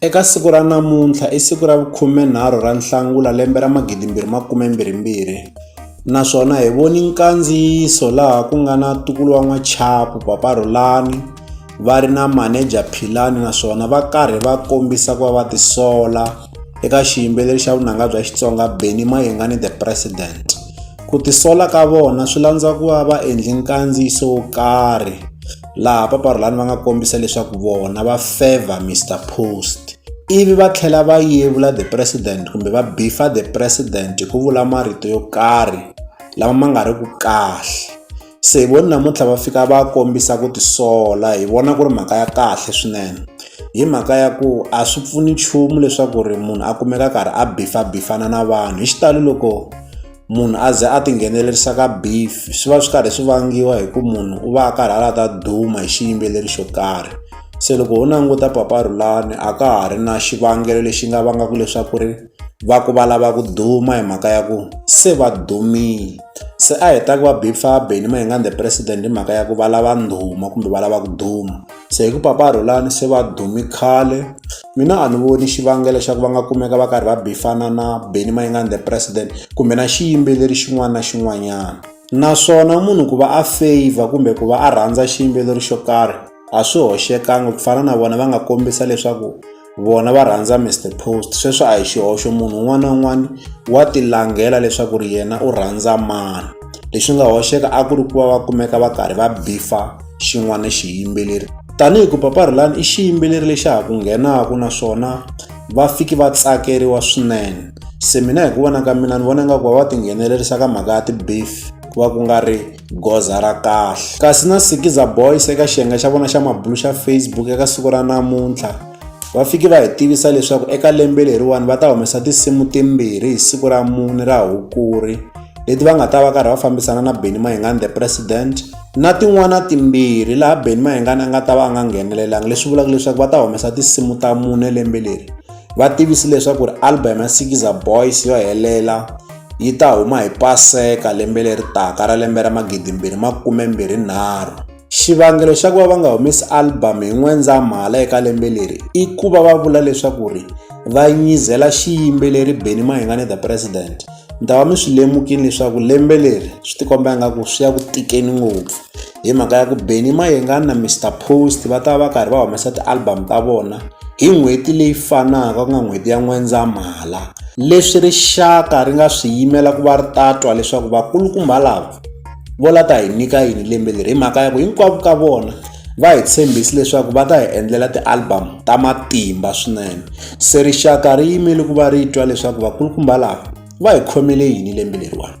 Eka siku ra namuntlha i siku ra vukhumenharhu ra Nhlangula lembe ra magidi mbirhi makume mbirhi mbirhi naswona hi voni nkandziyiso laha ku nga na ntukulu wa n'wachapu papa Rhulani va ri na manager Philani naswona va karhi va kombisa ku va va tisola eka xiyimbeleri xa vunanga bya Xitsonga Benny Mayengani the president ku tisola ka vona swi landza ku va va endli nkandziyiso wo karhi. laha paparhulani va nga kombisa leswaku vona va favor Mr Post ivi va tlhela va yevula the president kumbe va bifa the president hi ku vula marito yo karhi lama ma nga ri ku kahle se hi voni namuntlha va fika va kombisa ku tisola hi vona ku ri mhaka ya kahle swinene hi mhaka ya ku a swi pfuni nchumu leswaku ri munhu a kumeka karhi a bifa bifana na vanhu hi xitalo loko munhu a ze a tinghenelerisa ka beef swi va swi karhi swi vangiwa hi ku munhu u va a karhi a lata duma hi xiyimbeleri xo karhi se loko ho languta papa rhulani a ka ha ri na xivangelo lexi nga vangaka leswaku ri va ku va lava ku duma hi mhaka ya ku se va dumile se a hi ta ku va bifabeni ma hi nga the president hi mhaka ya ku va lava ndhuma kumbe va lava ku duma se hi ku papa Rhulani se va dumi khale mina a ni voni xivangelo xa ku va nga kumeka va karhi va bifana na Benny Mayengani the president kumbe na xiyimbeleri xin'wana na xin'wanyana naswona munhu ku va a favor kumbe ku va a rhandza xiyimbeleri xo karhi a swi hoxekangi ku fana na vona va nga kombisa leswaku vona va rhandza Mr Post sweswo a hi xihoxo munhu un'wana na un'wana wa tilangela leswaku ri yena u rhandza mani leswi nga hoxeka a ku ri ku va va kumeka va karhi va bifa xin'wana xiyimbeleri tanihi ku paparhulani i xiyimbeleri lexi ha ku nghenaka naswona va fiki va tsakeriwa swinene se mina hi ku vona ka mina ni vona nga ku va va tinghenelerisa ka mhaka ya ti-beef ku va ku nga ri goza ra kahle kasi na sikiza boys eka xiyenge xa vona xa mabulu xa facebook eka siku ra namuntlha va fike va hi tivisa leswaku eka lembe leriwani va ta humesa tinsimu timbirhi hi siku ra mune ra hukuri leti va nga ta va karhi va fambisana na beni mahingani the president na tin'wana timbirhi laha beni mahingani a nga ta va a nga nghenelelanga leswi vulaka leswaku va ta humesa tinsimu ta mune lembe leri va tivisi leswaku ri album ya sikiza boys yo helela yi ta huma hi Paseka lembe leri taka ra lembe ra magidimbirhi makume mbirhi nharhu. Xivangelo xa ku va va nga humesi album hi N'wendzamhala eka lembe leri i ku va va vula leswaku ri va nyizela xiyimbeleri Benny Mahingane the President. Mi ta va mi swi lemukile leswaku lembe leri swi tikomba ingaku swi ya ku tikeni ngopfu. hi mhaka ya ku Benny Mayengani na Mister Post va ta va karhi va humesa ti-album ta vona hi n'hweti leyi fanaka ku nga n'hweti ya N'wendzamhala leswi rixaka ri nga swi yimela ku va ri tatwa leswaku vakulukumba lava vo la ta hi nyika yini lembe leri hi mhaka ya ku hinkwavo ka vona va hi tshembisi leswaku va ta hi endlela ti-album ta matimba swinene se rixaka ri yimele ku va ri twa leswaku vakulukumba lava va hi khomele yini lembe leriwani